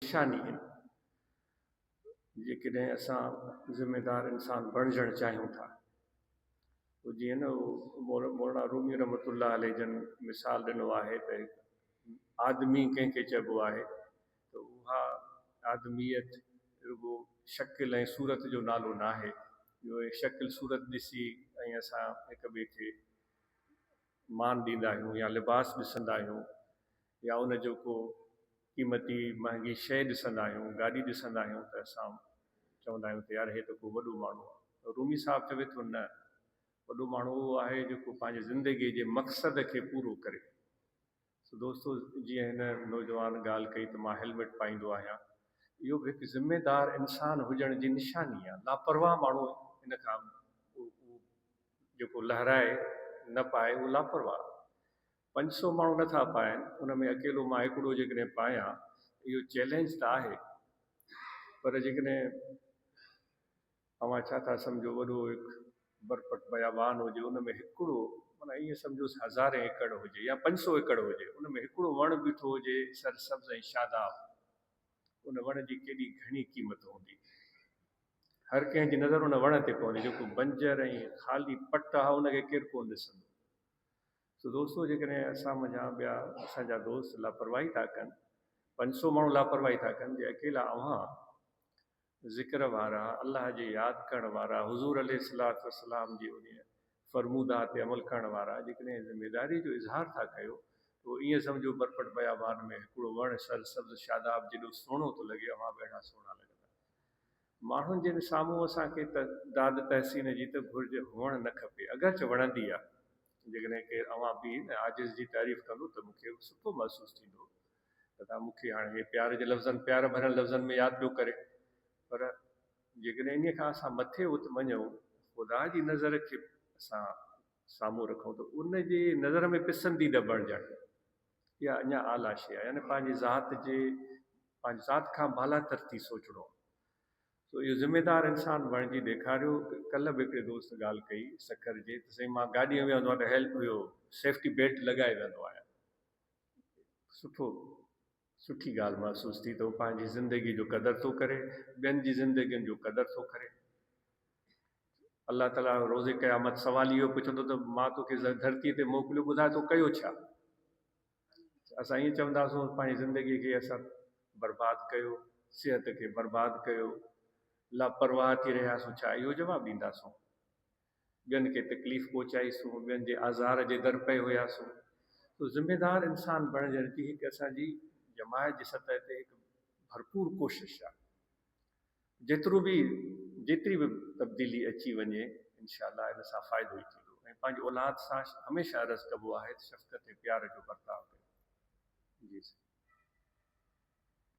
نشاني آهي. جيڪڏهن اسان ذميدار انسان بڻجڻ چاهيون ٿا پوء جيئن نه مولانا رومي رحمة الله عليه جن مثال ڏنو آهي ته هڪ آدمي ڪنهن کي چئبو آهي ته اها آدميت رڳو شڪل ۽ صورت جو نالو ناهي جو اهي شڪل صورت ڏسي ۽ اسان هڪ ٻئي کي مان ڏيندا آهيون يا لباس ڏسندا آهيون يا ان جو ڪو قيمتي مهانگي شيء ڏسندا آهيون، گاڏي ڏسندا آهيون ته اسان چوندا آهيون ته يار هي ته ڪو وڏو ماڻهو آهي. رومي صاحب چوي ٿو نه، وڏو ماڻهو اهو آهي جيڪو پنهنجي زندگيء جي مقصد کي پورو ڪري. سو دوستو جيئن هن نوجوان ڳالهه ڪئي ته مان هيلمٽ پائيندو آهيان، اهو به هڪ ذميدار انسان هجڻ جي نشاني آهي. لاپرواهه ماڻهو ان کان اهو جيڪو لهرائي نه پائي اهو لاپرواهه آهي. پنج سؤ ماڻهو نه ٿا پائن، ان ۾ اڪيلو مان هڪڙو جيڪڏهن پايان، اهو چئلينج ته آهي، پر جيڪڏهن اوهان ڇا ٿا سمجهو وڏو هڪ برپٽ بيابان هجي، ان ۾ هڪڙو معنيٰ ائين سمجهوس هزارين ايڪڙ هجي يا پنج سؤ ايڪڙ هجي، ان ۾ هڪڙو وڻ بيٺو هجي سر سبز ۽ شاداب، ان وڻ جي ڪيڏي گهڻي قيمت هوندي. هر ڪنهن جي نظر ان وڻ تي پوندي، جيڪو بنجر ۽ خالي پٽ آهي، ان کي ڪير ڪونه ڏسندو. سو دوستو جيڪڏهن اسان منجهان ٻيا اسان جا دوست لاپرواهي ٿا ڪن، پنج سؤ ماڻهو لاپرواهي ٿا ڪن، جي اڪيلا اوهان ذڪر وارا، الله جي ياد ڪرڻ وارا، حضور عليه الصلوة والسلام جي انهيء فرموده تي عمل ڪرڻ وارا جيڪڏهن ذميداريء جو اظهار ٿا ڪيو ته ائين سمجهو برپٽ بيابان ۾ هڪڙو وڻ سرسبز شاداب جيڏو سهڻو ٿو لڳي، اوهان به اهڙا سهڻا لڳندا. ماڻهن جن سامهون اسان کي ته داد تحسين جي ته گهرج هئڻ نه کپي اگرچ وڻندي آ جيڪڏهن ڪير اوهان بي ۽ عاجز جي تعريف ڪندو ته مون کي به سٺو محسوس ٿيندو ته توهان مون کي هاڻي هي پيار جي لفظن پيار ڀريل لفظن ۾ ياد پيو ڪري پر جيڪڏهن انهي کان اسان مٿي ات مڃون خدا جي نظر کي اسان سامهون رکون ته ان جي نظر ۾ پسنديده بڻجڻ. يا اڃا اعليٰ شيء يعني پنهنجي ذات جي پنهنجي ذات کان بالاتر ٿي سوچڻو سو اهو ذميدار انسان بڻجي ڏيکاريو ڪلهه به هڪڙي دوست ڳالهه ڪئي سکر جي ته سائين مان گاڏي ۾ ويهندو آهيان هيلپ اهو سيفٽي بيلٽ لڳائي ويهندو آهيان سٺو سٺي ڳالهه محسوس ٿي ته هو پنهنجي زندگي جو قدر ٿو ڪري ٻين جي زندگين جو قدر ٿو ڪري الله تعاليٰ روز قيامت سوال اهو پڇندو ته مان توکي ڌرتي تي موڪليو ٻڌاء تو ڪيو ڇا؟ اسان ائين چونداسون پنهنجي زندگي کي اسان برباد ڪيو، صحت کي برباد ڪيو، لاپرواهه ٿي رهياسون ڇا؟ اهو جواب ڏينداسون. ٻين کي تڪليف پهچائي سون، ٻين جي آزار جي در پئي هياسون. سو ذميدار انسان بڻجڻ جي هڪ اسان جي جماعت جي سطح تي هڪ ڀرپور ڪوشش آهي. جيترو به جيتري به تبديلي اچي وڃي انشاء الله ان سان فائدو ئي ٿيندو ۽ پنهنجي اولاد سان هميشه عرض ڪبو آهي ته شفقت ۽ پيار جو برتاء ڪيو جي سائين.